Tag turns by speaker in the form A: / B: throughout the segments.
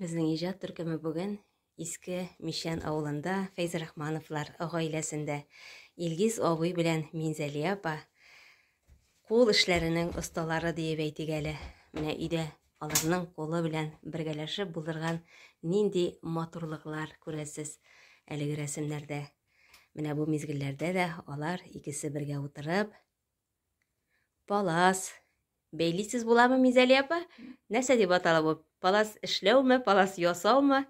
A: Безнең иҗат төркеме бүген Иске Мишән авылында Фәйз Рахмановлар гаиләсендә Илгиз абый белән Минзәлия апа кул эшләренең осталары диеп әйтик әле. Менә өйдә аларның кулы белән бергәләшеп булдырган нинди матурлыклар күрәсез әлеге рәсемнәрдә. Менә бу мизгелләрдә дә алар икесе бергә утырып, Палас. Бәйлисез буламы, Мизәли апа? Нәрсә дип атала бу? Палас эшләүме, палас ясаумы?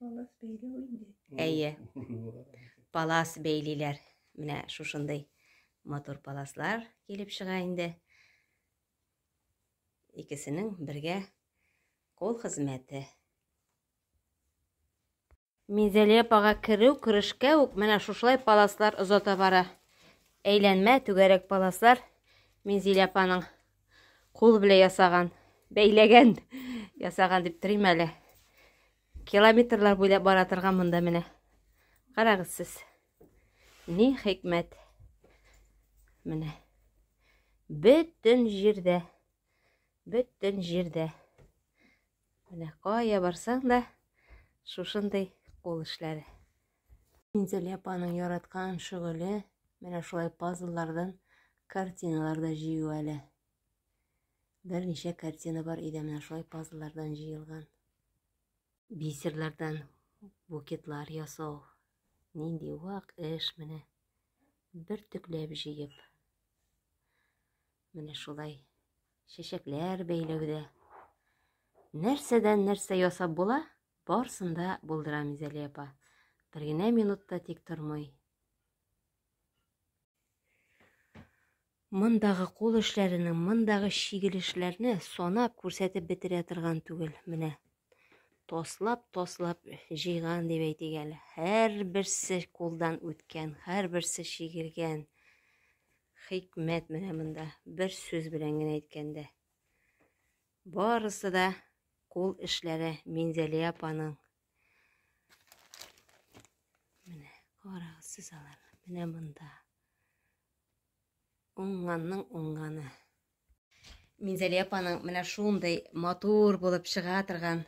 B: Палас бәйләү инде. Әйе.
A: Палас бәйлиләр. Менә шушындый матур паласлар килеп чыга инде. Икесенең бергә кол хезмәте. Менделеевага керү керешкә үк менә шушылай паласлар озата бара. Әйләнмә түгәрәк паласлар Мензилә апаның кул белән ясаган, бәйләгән, ясаган дип торыйм әле. Километрлар буйлап бара торган монда менә. Карагыз сез. Ни хикмәт. Менә. Бөтен җирдә. Бөтен җирдә. Менә кая барсаң да шушындый кул эшләре. Минзәлия апаның яраткан шөгыле менә шулай пазллардан картиналар да җыю әле. Берничә картина бар иде менә шулай пазллардан җыелган. Бисерләрдән букетлар ясау. Нинди вак эш менә. Бер төкләп җыеп. Менә шулай чәчәкләр бәйләүдә нәрсәдән нәрсә ясап була, барсын да булдырам Изәли апа. Бер генә минутта тик тормый. Мондагы кул эшләренең, мондагы чигелешләрне санап күрсәтеп бетерә торган түгел. Менә таслап-таслап җыйган дип әйтик әле. Һәрберсе кулдан үткән, һәрберсе чигелгән. Хикмәт менә монда, бер сүз белән генә әйткәндә. Барысы да кул эшләре Минзәлия апаның. Менә карагыз сез аларны. Менә монда. Уңганның уңганы. Минзәлия апаның менә шундый матур булып чыга торган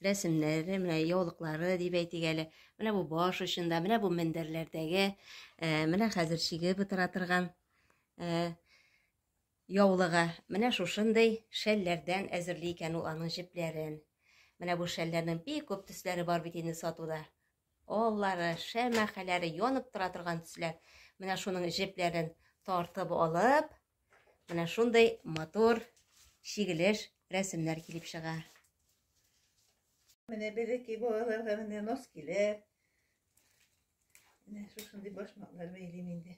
A: рәсемнәре, менә яулыклары дип әйтик әле. Менә бу баш очында, менә бу мендәрләрдәге, э, менә хәзер чигеп утыра торган э, яулыгы. Менә шушындый шәлләрдән әзерли икән ул аның җепләрен. Менә бу шәлләрнең бик күп төсләре бар бит инде сатуда. Аллары, шәмәхәләре янып тора торган төсләр. Менә шуның җепләрен тартып алып, менә шундый матур чигелеш рәсемнәр килеп чыга.
B: Менә береки балаларга менә нос килер. Менә шушындый башмаклар бәйлим инде.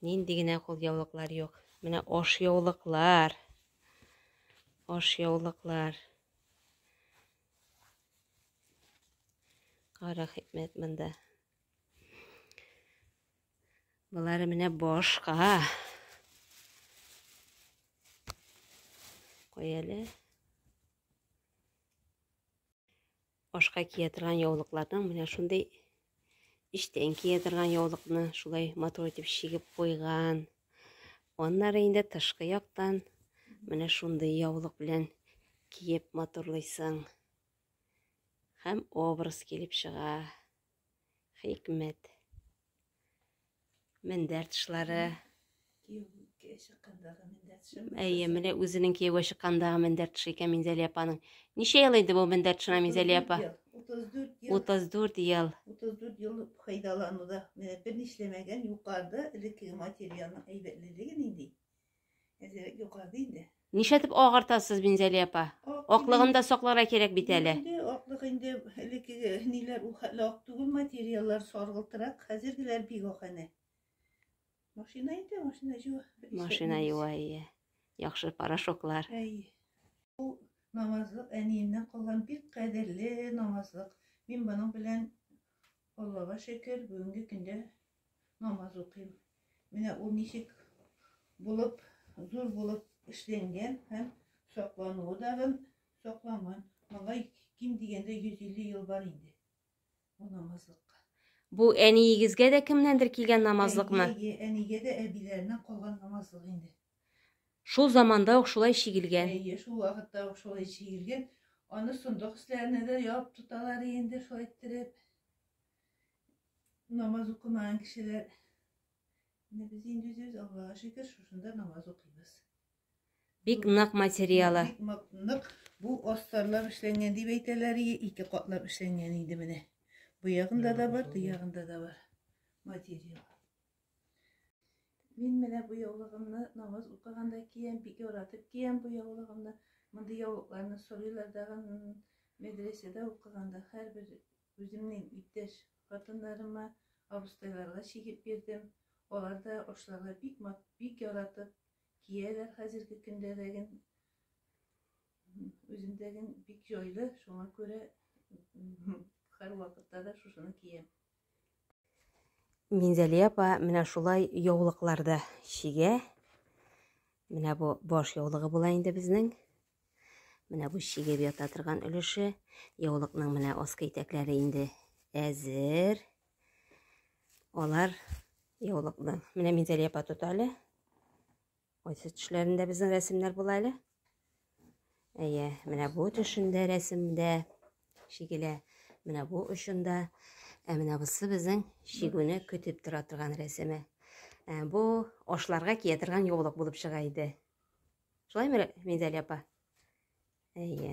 A: Нинди генә кулъяулыклар юк. Менә аш яулыклар. Аш яулыклар. Кара хикмәт монда. Болары менә башка. Кой әле. Ашка кия торган яулыкларның менә шундый эчтән кия торган яулыкны шулай матур итеп чигеп куйган. Аннары инде тышкы яктан менә шундый яулык белән киеп матурлыйсың. Һәм образ килеп чыга. Хикмәт. Мендәр тышлары. Кияүгә чыккандагы мендәр тышы. Әйе, менә үзенең кияүгә чыккандагы мендәр тышы икән Минзәлия апаның. Ничә ел инде бу мендәр тышына Минзәлия апа? 34 ел. 34 ел. 34 ел
B: файдалануда. Менә берни эшләмәгән, юкарыда элеккеге материалның әйбәтлелеге нинди? Әле югады инде. Нишәтеп агартасыз,
A: Бинзәли апа? Аклыгын да сакларга кирәк бит әле. Инде аклык инде
B: элеккеге ниләр ул хәле ак түгел материаллар саргылтырак, хәзергеләр бик ак әнә. Машина инде, машина җуа. Машина юа,
A: ие. Яхшы порошоклар.
B: Әй. Ул намазлык әниемнән калган бик кадерле намазлык. Мин моның белән Аллага шөкер, бүгенге көндә Намаз укыйм. Менә ул ничек булып, зур булып эшләнгән һәм саклануы да гын сакланган. Моңа ким дигәндә 150 ел бар инде. Бу намазлыкка. Бу
A: әниегезгә дә кемнәндер килгән намазлыкмы? Әйе, әнигә дә
B: әбиләреннән калган намазлык инде. Шул
A: заманда ук шулай чигелгән. Әйе, шул вакытта
B: ук шулай чигелгән. Аны сондык өсләренә дә ябып тоталар инде шулай иттереп. Намаз укымаган кешеләр Менә без инде үзебез Аллага шөкер шушында намаз укыйбыз. Бик
A: нык материалы. Бик нык.
B: Бу астарлар эшләнгән дип әйтәләр, ике катлап эшләнгән инде менә. Бу ягында да бар, бу ягында да бар материал. Мин менә бу яулыгымны намаз укыганда киям, бик яратып киям бу яулыгымны. Мондый яулыкларны сорыйлар дагы медресәдә укыганда һәрбер Үземнең иптәш хатыннарыма, абыстайларга чигеп бирдем. Алар да ашларга бик мат, бик яратып кияләр хәзерге көндәдәген, үземдәген бик җайлы, шуңа күрә һәрвакытта да шушыны киям.
A: Минзәли апа менә шулай яулыкларда чигә. Менә бу баш яулыгы була инде безнең. Менә бу чигеп ята торган өлеше. Яулыкның менә аскы итәкләре инде әзер. Алар яулыкның. Менә Минзәлия апа тота әле. Кайсы төшләрендә безнең рәсемнәр була әле. Әйе, менә бу төшендә рәсемдә шигелә. Менә бу очында. Ә менә бусы безнең шигүне көтеп тора торган рәсеме. Ә, бу ашларга кия торган яулык булып чыга иде. Шулаймы, Мизәлия апа? Әйе.